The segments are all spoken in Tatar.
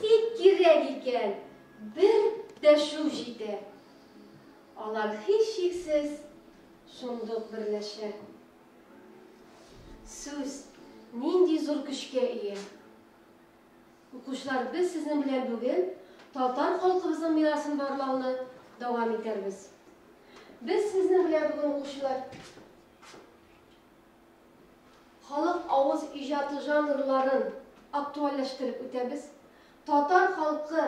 Тик кирәк икән, бер дәшү җитә. Алар һичшиксез шундук берләшә. Сүз нинди зур көчкә ия! Укучылар, без сезнең белән бүген татар халкыбызның мирасын барлауны дәвам итәрбез. Без сезнең белән бүген, укучылар. Халык авыз иҗаты жанрларын актуальләштереп үтәбез, татар халкы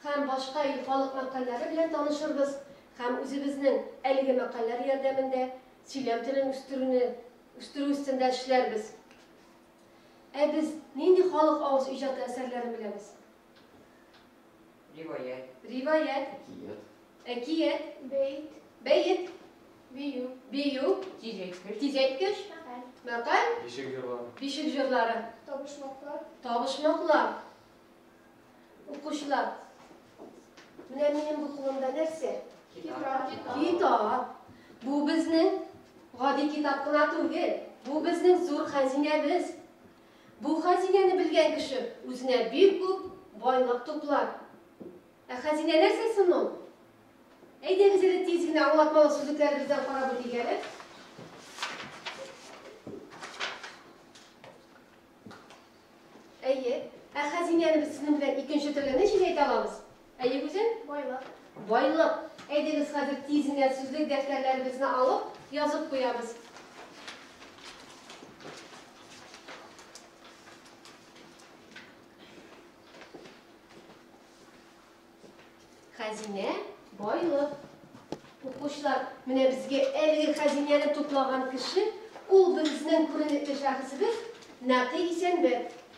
һәм башка ил халык мәкальләре белән танышырбыз һәм үзебезнең әлеге мәкальләр ярдәмендә сөйләм телен үстерүне үстерү өстендә эшләрбез. Ә без нинди халык авыз иҗаты әсәрләрен беләбез? Риваять. Риваять. Әкият. Әкият. Бәйт. Бәйт. Бию. Бию. Тизәйткеч. Тизәйткеч. Мәкаль. Мәкаль. Бишек җырлары. Бишек җырлары. Табышмаклар. Табышмаклар. Укучылар. Менә минем бу кулымда нәрсә? Китап. Китап. Бу безнең гади китап кына түгел. Бу безнең зур хәзинәбез. Бу хәзинәне белгән кеше үзенә бик күп байлык туплар. Ә хәзинә нәрсә соң ул? Әйдәгез әле тиз генә аңлатмалы сүзлекләребездән карап үтик әле. Әйе, ә хәзинәне без сезнең белән икенче төрле ничек әйтә алабыз? Әйе, Гүзәл? Байлык. Байлык. Әйдәгез, хәзер тиз генә сүзлек дәфтәрләребезне алып, язып куябыз. Хәзинә, байлык. Укучылар, менә безгә әлеге хәзинәне туплаган кеше, ул безнең күренекле шәхесебез Нәкый Исәнбәт.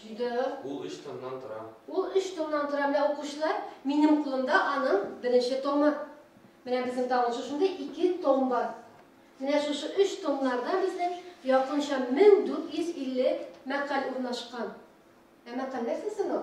Җиде. Ул өч томнан тора. Ул өч томнан тора. Менә укучылар, минем кулымда аның беренче томы. Менә безнең тагын шушында ике том бар. Менә шушы өч томнарда безнең якынча 1450 мәкаль урнашкан. Ә мәкаль нәрсә соң ул?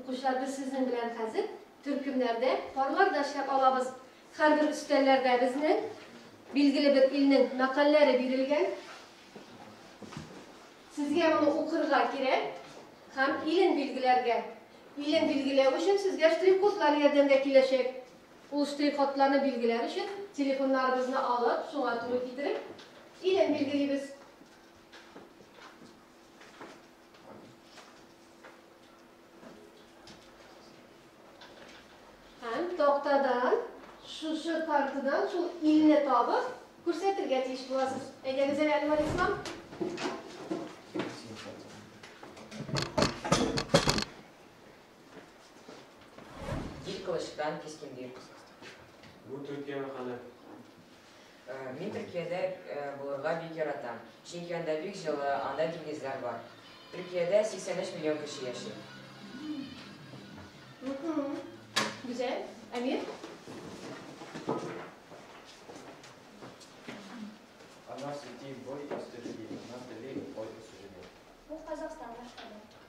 Укучылар, без сезнең белән хәзер төркемнәрдә, парларда эшләп алабыз. Һәрбер өстәлләрдә безнең билгеле бер илнең мәкальләре бирелгән. Сезгә моны укырга кирәк һәм илен билгеләргә. Илен билгеләү өчен сезгә штрих-кодлар ярдәмгә киләчәк. Ул штрих-кодларны билгеләр өчен телефоннарыбызны алып, шуңа туры китереп, илен билгелибез. Һәм тактадан, шушы картадан шул илне табып, күрсәтергә тиеш буласыз. Әйдәгез әле, Әнвәр Ислам. Ил кылычтан кискендир. Бу Төркия мәкале. Мин Төркиядә булырга бик яратам, чөнки анда бик җылы, анда диңгезләр бар. Төркиядә 83 миллион кеше яши. Гүзәл, Әмир? Она сидит бой посреди, она далеко бой посреди. Бу Казахстан башкалар.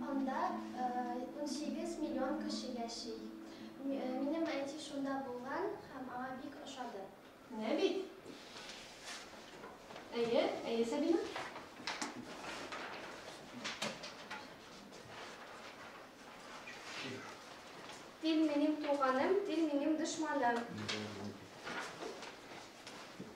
Анда унсигез миллион кеше яши. Минем әти шунда булган һәм аңа бик ошады. Менә бит. Әйе, әйе, Сабина. Тел минем туганым, тел минем дошманым.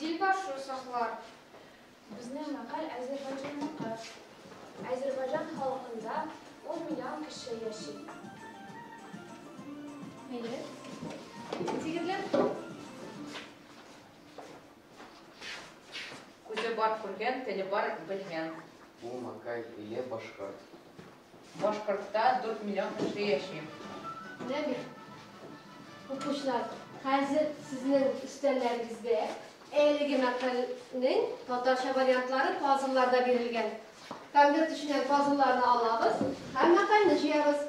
Дилбар шул чаклар. Безнең мәкаль Азербайҗанныкы. Азербайҗан халкында ун миллион кеше яши. Әйе. Җегетләр. Күзе бар күргән, теле бар белгән. Бу мәкаль иле башкорт. Башкортта дүрт миллион кеше яши. Менә бит, укучылар, хәзер сезнең өстәлләрегездә әлеге мәкальнең татарча вариантлары пазлларда бирелгән. Конверт эченнән пазлларны алабыз һәм мәкальне җыябыз.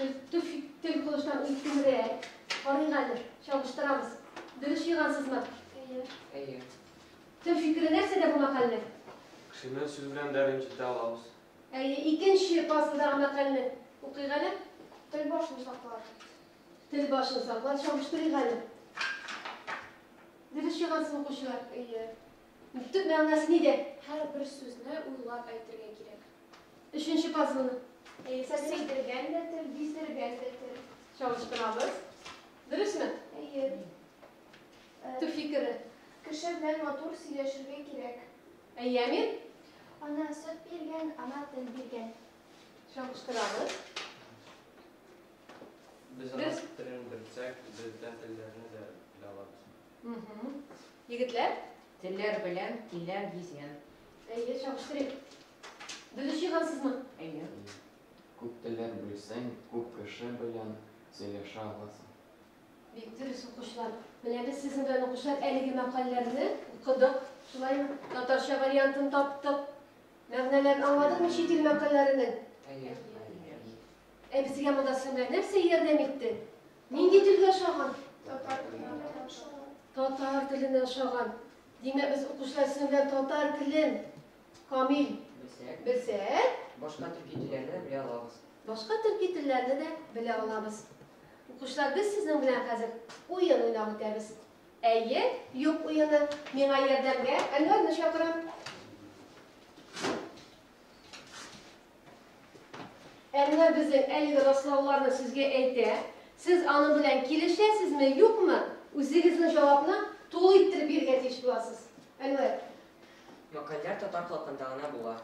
Тел кылычтан өлкәнрәк. Карыйк әле, чагыштырабыз. Дөрес җыйгансызмы? Әйе. Әйе. Тел фикере нәрсәдә бу мәкальнең? Кешене сүз белән дә рәнҗетә алабыз. Әйе, икенче пазлдагы мәкальне укыйк әле. Тел башын саклар. Тел башын саклар, чагыштырыйк әле. Дөрес җыйгансызмы, укучылар? Әйе. Төп мәгънәсе нидә? Һәр бер сүзне уйлап әйтергә кирәк. Өченче пазлны. Әйе, сөйдергән дә тел, биздергән дә тел. Чалыштырабыз. Дөресме? Әйе. Төп фикере? Кеше белән матур сөйләшергә кирәк. Әйе, Әмир? Ана сөт биргән, ана тел биргән. Чалыштырабыз. Без ана телен белсәк, бездә телләрне дә белә алабыз. Егетләр? Телләр белән тиләр гизгән. Әйе, чагыштырыйк. Без өч егансызмы? Әйе. Күп телләр белсәң, күп кеше белән сөйләшә аласың. Бик дөрес, укучылар. Менә без сезнең белән укучылар әлеге мәкаләләрне укыдык. Шулаймы? Татарча вариантын таптык. Мәгънәләрен аңладыңмы чит ил мәкаләләренең? Әйе. Ә безгә монда серләр нәрсә ярдәм итте? Нинди телгә ошаган? Татар теленә ошаган. Татар теленә ошаган. Димәк, без укучылар сезнең белән татар телен камил белсәк, белсәк, башка төрки телләрне белә алабыз. Башка төрки телләрне дә белә алабыз. Укучылар, без сезнең белән хәзер уен уйнап үтәбез. Әйе, юк уены. Миңа ярдәмгә Әнвәрне чакырам. Ә менә безнең әлеге раслауларны сезгә әйтә. Сез аның белән килешәсезме, юкмы? Үзегезнең җавапны тулы иттереп бирергә тиеш буласыз. Әнвәр. Мәкальләр татар халкында гына була.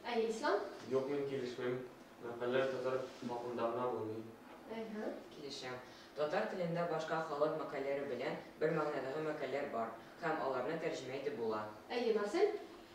Әйе, Ислам? Юк, мин килешмим. Мәкальләр татар халкында гына булмый. Әйһе. Килешәм. Татар телендә башка халык мәкальләре белән бер мәгънәдәге мәкальләр бар һәм аларны тәрҗемә итеп була. Әйе, Марсель?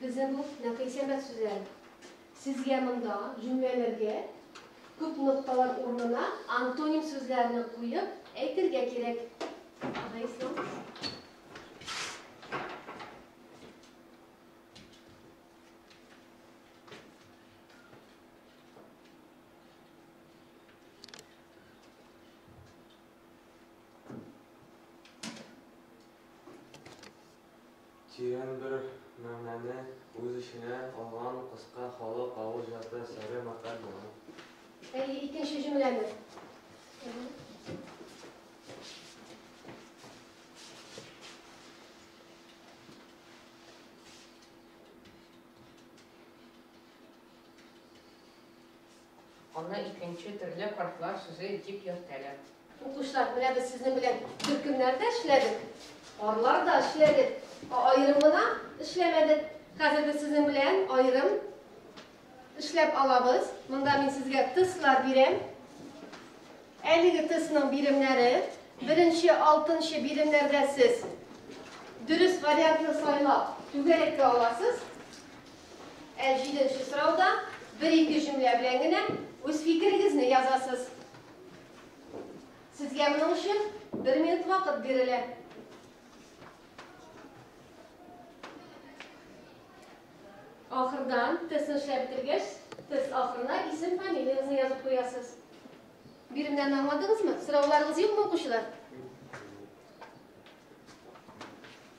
Бездә бу нәкыйсәмәт сүзләр. Сезгә монда җөмләләргә күп нокталар урынына антоним сүзләрне куеп әйтергә кирәк. Тирән бер мәгънәне үз эченә алган кыска халык авыз җаты сәре мәкаль була. Әйе, икенче җөмләне. Аны икенче төрле картлар сүзе дип йөртәләр. Укучылар, менә без сезнең белән төркемнәрдә эшләдек, парларда эшләдек, аерым гына эшләмәдек. Хәзер без сезнең белән аерым эшләп алабыз. Монда мин сезгә тестлар бирәм. Әлеге тестның биремнәре, беренче, алтынчы биремнәрдә сез дөрес вариантны сайлап, түгәрәккә аласыз. Ә җиденче сорауда бер-ике җөмлә белән генә үз фикерегезне язасыз. Сезгә моның өчен бер минут вакыт бирелә. Ахырдан тестны эшләп бетергәч, тест ахырына исем фамилияңызны язып куясыз. Биремнәрне аңладыгызмы? Сорауларыгыз юкмы, укучылар?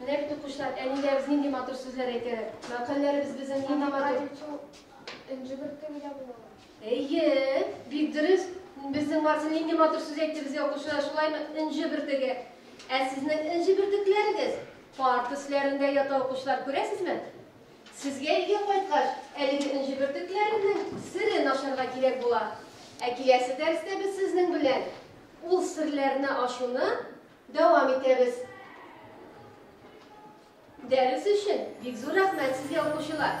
Менә бит, укучылар, әниләребез нинди матур сүзләр әйтәләр. Мәкальләребез безнең нинди матур. Энҗе бөртеге дә була ала. Әйе, бик дөрес. Безнең Марсель нинди матур сүз әйтте безгә, укучылар, шулаймы? Энҗе бөртеге. Ә сезнең энҗе бөртекләрегез парт өсләрендә ята, укучылар, күрәсезме? Сезгә өйгә кайткач, әлеге энҗе бөртекләренең серен ачарга кирәк була. Ә киләсе дәрестә без сезнең белән ул серләрне ачуны Дәвам итәбез. Дәрес өчен бик зур рәхмәт сезгә, укучылар!